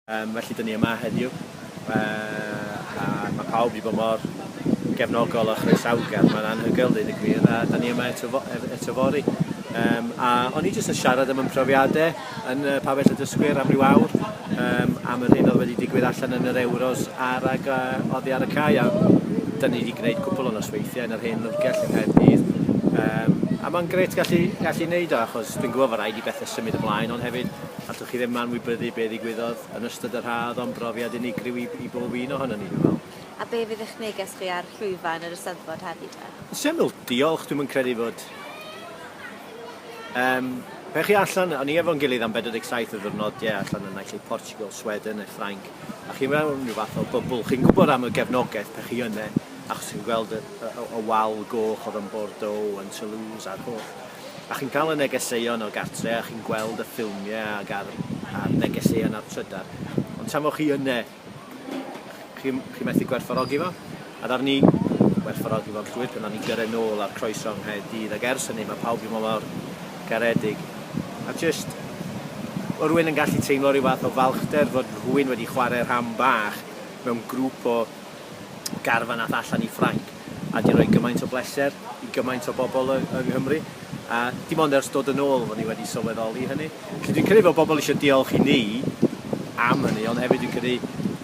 Yym felly dyn ni yma heddiw yy a ma' pawb wedi bod mor gefnogol a chroesawgar, mae'n anhygoel deud y gwir, a dyn ni yma eto fo- ef- eto fory. Yym a o'n i jyst yn siarad am yn profiadau yn y Pabell y Dysgwyr am ryw awr, yym am yr hyn oedd wedi digwydd allan yn yr Ewros a'r ag a oddi ar y cae a dyn ni wedi gwneud cwpl o nosweithiau yn yr hen lyfrgell yng Nghaerdydd yym a mae'n grêt gallu gallu neud o achos dwi'n gwybod fod rhaid i bethau symud ymlaen ond hefyd Allwch chi ddim anwybyddu be ddigwyddodd yn ystod yr haf, oedd o'n brofiad unigryw i i bob un ohonon ni, dwi'n meddwl. A be fydd eich neges chi ar llwyfan yr Eisteddfod heddi te? Yn syml, diolch, dwi'm yn credu fod Yym, pe chi allan, o'n i efo'n gilydd am 47 o ddiwrnodiau allan yn naill ai Portugal, Sweden neu Ffrainc, a chi mewn rhyw fath o bybl, chi'n gwybod am y gefnogaeth pe chi yne, achos chi'n gweld y, y, y wal goch oedd yn Bordeaux, yn Toulouse a'r holl a chi'n cael y negeseuon o gartre a chi'n gweld y ffilmie ag a'r a'r negeseuon a'r trydar ond tan fo chi yne chi m- chi methu gwerthfawrogi fo a ddaru ni werthfawrogi fo'n llwyr pan nawn ni gyrre nôl a'r croeso yng Nghaerdydd ag ers hynny ma' pawb 'di bod mor garedig a jyst o' rywun yn gallu teimlo ryw fath o falchder fod rhywun wedi chware rhan bach mewn grŵp o garfan ath allan i Ffrainc a 'di roi gymaint o bleser i gymaint o bobl yng Nghymru a dim ond ers dod yn ôl fo' ni wedi sylweddoli hynny. Felly dwi'n credu fod pobl eisiau diolch i ni am hynny ond hefyd dwi'n credu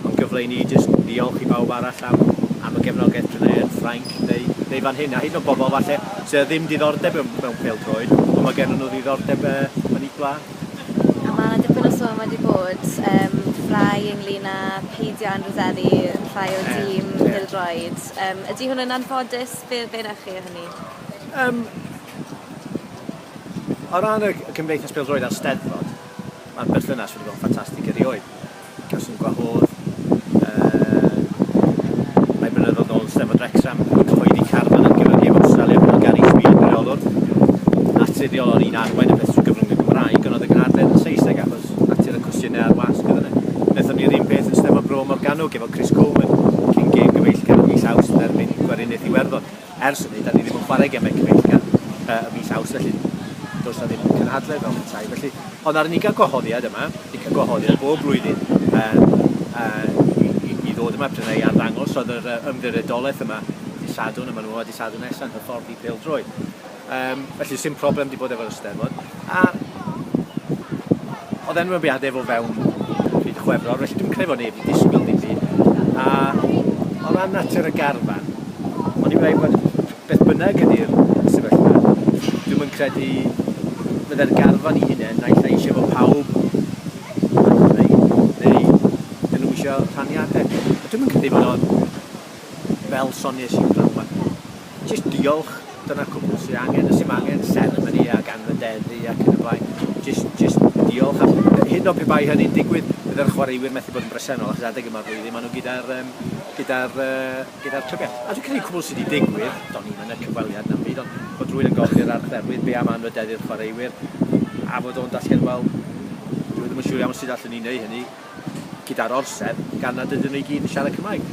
mae'n gyfle i ni jyst ddiolch i bawb arall am am y gefnogaeth pryd mae yn Ffrainc neu neu fan hyn a hyd yn oed bobl falle sydd â ddim diddordeb mewn pêl-droed ond mae gennyn nhw ddiddordeb yn eu gwlad. A ma' 'na dipyn o sôn wedi bod yym rai ynglŷn â peidio â anrhyddeddu rhai o'r tîm... Ie ie. ...bêl-droed yym ydi hwn yn anffodus be' be' newch chi o hynny? Yym. O ran y y Cymdeithas Bêl-droed a'r Steddfod ma'r berthynas wedi bod yn ffantastig erioed. Fi'n cawso'n gwahodd yn rhai blynyddodd nôl yn Steddfod Wrecsam i gyhoeddi carfan ar gyfer Heb Awstralia fel Gary Speed yn reolwr naturiol o'n i'n arwain y peth trwy gyfrwng y Gymraeg ond oedd y gynadledd yn Saesneg achos natur y cwestiynau a'r wasg oedd yna. Wnaethon ni'r un peth yn Steddfod Bro Morgannwg efo Chris Coleman cyn gêm gyfeillgar yn mis Awst yn erbyn Gweriniaeth Iwerddon. Ers hynny, dan ni ddim yn chwarae gemau cyfeillgar ym mis Awst, felly does 'na ddim cynhadledd fel petai. Felly, ond ar ni gael gwahoddiad yma, ni'n cael gwahoddiad bob blwyddyn um, uh, i, i, i ddod yma prynu i arddangos, oedd yr ymddiriedolaeth yma dydd Sadwrn, a maen nhw yma dydd Sadwrn nesaf yn hyfforddi peldroed. Yym, felly sim problem 'di bod efo'r Eisteddfod. A oedd enwebiadau efo fewn pryd chwefror, felly dwi'n credu fod neb wedi disgwyl ddim byd. A o ran natur y garfan, o'n i'n dweud bod beth bynnag ydy'r sefyllfa, dwi'n yn credu fydde'r garfan i hunain naill ai eisiau fod pawb yn ymwneud, neu dyn nhw eisiau rhaniadau. A dwi'n yn credu fod o'n fel soniais i pnawn ma. Jyst diolch, dyna'r cwbl sy angen, does dim angen seremoni ac anrhyddeddu ac yn y blaen, jyst jyst diolch a hyd yn oed pe bai hynny'n digwydd, bydde'r chwaraewyr methu bod yn bresennol achos adeg yma'r flwyddyn maen nhw gyda'r yym gyda'r yy gyda'r clybiau. A dwi'n credu cwbl sy' 'di digwydd, do'n i'm yn y cyfweliad na'm byd, ond bod rhywun yn gofyn i'r archdderwydd be' am anrhyddeddu'r chwaraewyr a fod o'n datgelu wel dyw e ddim yn siŵr iawn sut allen ni neu' hynny, gyda'r orsedd gan nad ydyn nhw i gyd yn siarad Cymraeg.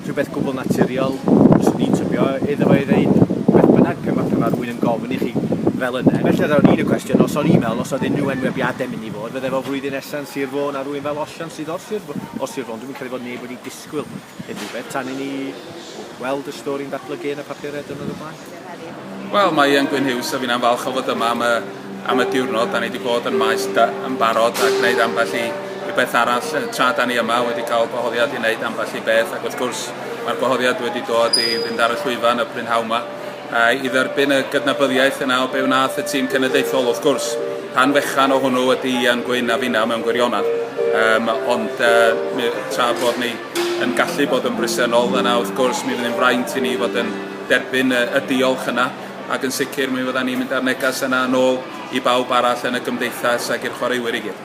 Rhywbeth gwbl naturiol fyswn i'n tybio iddo fo ei ddeud beth bynnag pan ma' pan ma' rhywun yn gofyn i chi fel yna. Felly ar ôl un y cwestiwn os o'n i'n meddwl os oedd unrhyw enwebiadau mynd i fod, fydde fo flwyddyn nesa'n Sir Fôn ar rywun fel Osian sydd o'r Sir Fôn. O'r Sir Fôn. Dwi'm yn credu fod neb wedi disgwyl Unrhyw beth tan i ni weld y stori'n datblygu yn y papurau diwrnod o blaen? Wel, mae Ian Gwyn Hughes a finna'n falch o fod yma am y, am y diwrnod. Da ni wedi bod yn maes da, yn barod a gwneud ambell i, i beth arall. Tra da ni yma wedi cael gwahoddiad i wneud ambell i beth ac wrth gwrs mae'r gwahoddiad wedi dod i fynd ar y llwyfan y prynhawn yma. I dderbyn y gydnabyddiaeth yna o be wnaeth y tîm cenedlaethol, wrth gwrs, rhan fechan o hwnnw ydy Ian Gwyn a finna mewn gwirionedd. Um, ond uh, tra bod ni yn gallu bod yn bresennol yna, wrth gwrs, mi fydd yn fraint i ni fod yn derbyn y, y diolch yna, ac yn sicr mi fydda ni'n mynd â'r neges yna yn ôl i bawb arall yn y gymdeithas ac i'r chwaraewyr i gyd.